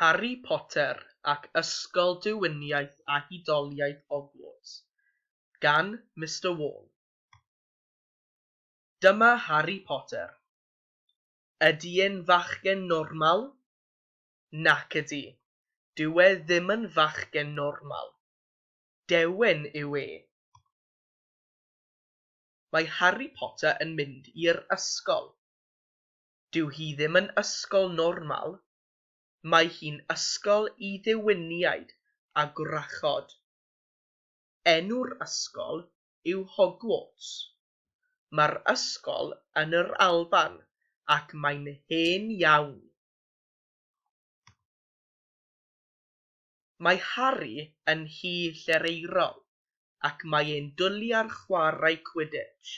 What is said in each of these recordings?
Harri Potter ac Ysgol Diwyniaeth a Hudoliaeth Hogwarts gan Mister Wall. Dyma Harri Potter. Ydy e'n fachgen normal? Nac ydy. Dyw e ddim yn fachgen normal. Deuen yw e. Mae Harri Potter yn mynd i'r ysgol. Dyw hi ddim yn ysgol normal, mae hi'n ysgol i ddiwiniaid a gwrachod. Enw'r ysgol yw Hogwarts. Mae'r ysgol yn yr Alban ac mae'n hen iawn. Mae Harri yn nhŷ llereirol ac mae e'n dwli ar chwarae Quidditch.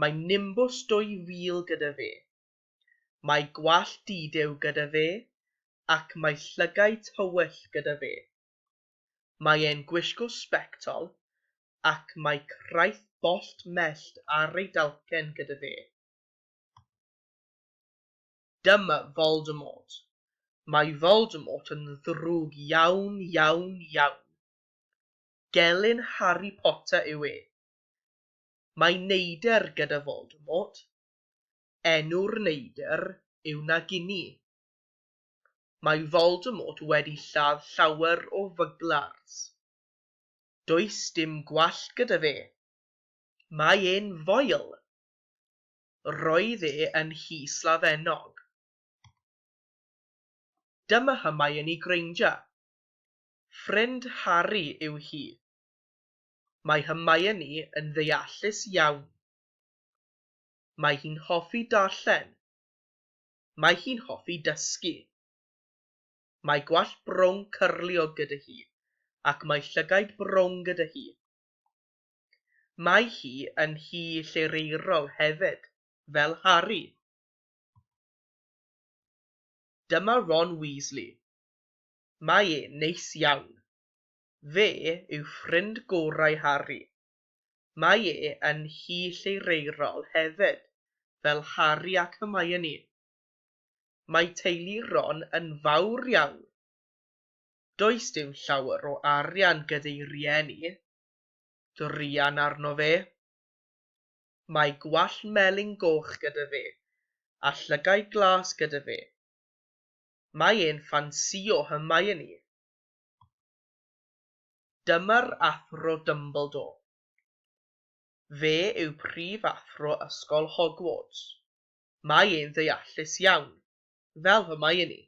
Mae Nimbws 2000 gyda fe. Mae gwallt di-dew gyda fe ac mae llygaid tywyll gyda fe. Mae e'n gwisgo sbectol ac mae craith bollt mellt ar ei dalcen gyda fe. Dyma Voldemort. Mae Voldemort yn ddrwg iawn, iawn, iawn. Gelyn Harry Potter yw e. Mae neidr gyda Voldemort. Enw'r neidr yw Nagini. Mae Voldemort wedi lladd llawer o fugglars. Does dim gwallt gyda fe. Mae e'n foel. Roedd e yn nhy slafennog. Dyma Hermione Granger. Ffrind Harri yw hi. Mae Hermione yn ddeallus iawn. Mae hi'n hoffi darllen. Mae hi'n hoffi dysgu. Mae gwallt brown cyrliog gyda hi ac mae llygaid brown gyda hi. Mae hi yn hi llereirol hefyd, fel Harri. Dyma Ron Weasley. Mae e'n neis iawn. Fe yw ffrind gorau Harri. Mae e yn hi llereirol hefyd, fel Harri ac Hermione. Mae teulu Ron yn fawr iawn. Does dim llawer o arian gyda'u rieni, druan arno fe. Mae gwallt melyn goch gyda fe a llygaid glas gyda fe. Mae e'n ffansïo Hermione. Dyma'r Athro Dumbledore. Fe yw Prif Athro Ysgol Hogwarts. Mae e'n ddeallus iawn, fel Hermione.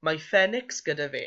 Mae ffenics gyda fe.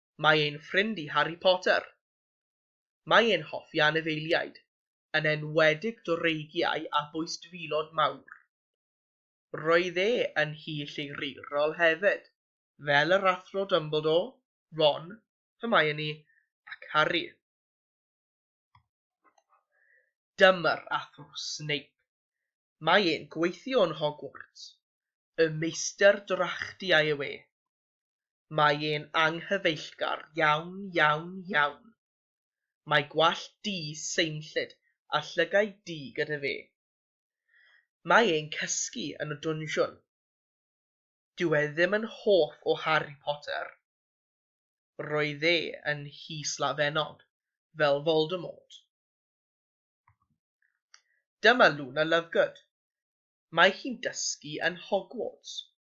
Mae ein ffrind i Harry Potter. Mae e'n hoffi anifeiliaid, yn enwedig dreigiau a bwystfilod mawr. Roedd e yn hŷ llygryrol hefyd, fel yr Athro Dumbledore, Ron, Hermione ac Harry. Dyma'r Athro Snape. Mae e'n gweithio yn Hogwarts. Y meistr drachtiau yw e. Mae e'n anghyfeillgar iawn, iawn, iawn. Mae gwallt du seimllyd a llygaid du gyda fe. Mae e'n cysgu yn y dwnsiwn. Dyw e ddim yn hoff o Harry Potter. Roedd e yn nhŷ slafennog, fel Voldemort. Dyma Luna Lovegood. Mae hi'n dysgu yn Hogwarts.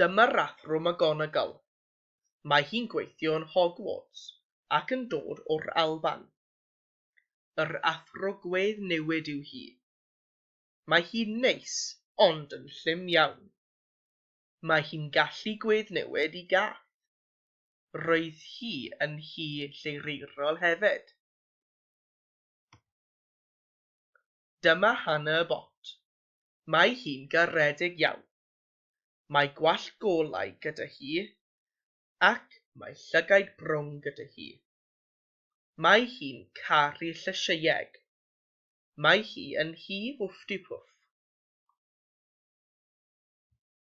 Dyma'r Athro McGonagall. Mae hi'n gweithio yn Hogwarts ac yn dod o'r Alban. Yr Athro Gwedd Newid yw hi. Mae hi'n neis ond yn llym iawn. Mae hi'n gallu gwedd newid i gath. Roedd hi yn Nhŷ Lleireirol hefyd. Dyma Hannah Bott. Mae hi'n garedig iawn. Mae gwallt golau gyda hi ac mae llygaid brown gyda hi. Mae hi'n caru llysieueg. Mae hi yn nhŷ Wfftipwff.